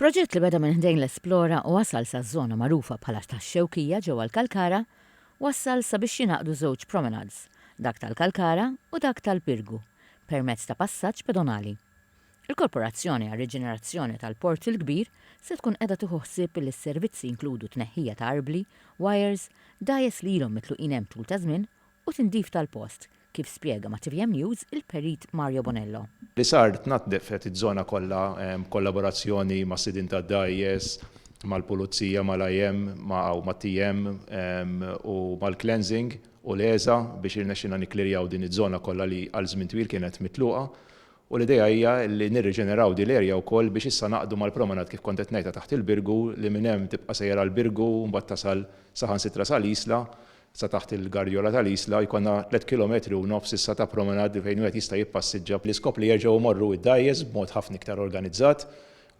Proġett li beda minn ħdejn l-Esplora u wasal saż-żona magħrufa bħala tax-Xewkija ġewwa l-Kalkara wassal sabiex jingħaqdu żewġ promenades, dak tal-Kalkara u dak tal-Pirgu, permezz ta' passaġġ pedonali. Il-Korporazzjoni għar-Riġenerazzjoni tal-Port il-Kbir se tkun qiegħda tieħu ħsieb li s-servizzi jinkludu tneħħija ta' arbli, wires, dgħajjes li ilhom mitluqin hemm tul ta' żmien u tindif tal-post, kif spjega ma' tvm News il-Perit Mario Bonello. Li sar, tnaddefet iż-żona kollha b'kollaborazzjoni mas-sidien tad-dgħajjes, mal-Pulizija, mal-IM u mat-TM u mal-Cleansing u l-ESA biex irnexxilna nikklerjaw din iż-żona kollha li għal żmien twil kienet mitluqa u l-idea hija li nirriġeneraw din l-erja wkoll biex issa naqdu mal-promenade kif kont qed ngħidha taħt il-Birgu li minn hemm tibqa' sejjer għall-Birgu u mbagħad tasal saħansitra sal-Isla Sa taħt il-garjola tal-Isla jkollna tliet kilometri u nofs issa ta' promenade fejn wieħed jista' jippassiġġa bl-iskop li jerġgħu jmorru id-dgħajjes b'mod ħafna iktar organizzat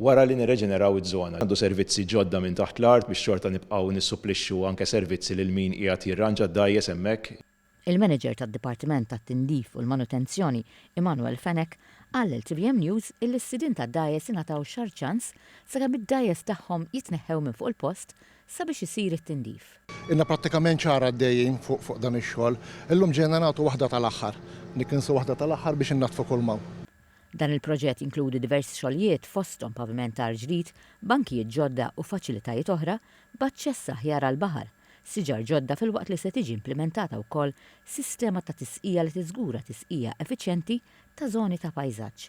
wara li nirreġeneraw iż-żona. Għandu servizzi ġodda minn taħt l-art biex xorta nibqgħu nissupplixxu anke servizzi lil min qiegħed jirranġa d-dgħajjes hemmhekk. Il-Manager tad-Dipartiment tat-Tindif u l-Manutenzjoni, Emmanuel Fenech, qal lil tvm News illi s-sidien tad-dgħajjes ingħataw xahar ċans sakemm id-dgħajjes tagħhom jitneħħew minn fuq il-post sabiex isir it-tindif. Ilna prattikament xahar għaddejjin fuq dan ix-xogħol. Illum ġejna nagħtu waħda tal-aħħar. Nikkinsu waħda tal-aħħar biex innaddfu kull ma hawn. Dan il-proġett jinkludi diversi xogħlijiet fosthom pavimentar ġdid, bankijiet ġodda u faċilitajiet oħra b'aċċess aħjar għall-baħar, siġar ġodda filwaqt li se tiġi implimentata wkoll sistema ta' tisqija li tiżgura tisqija effiċjenti ta' żoni ta' pajżaġġ.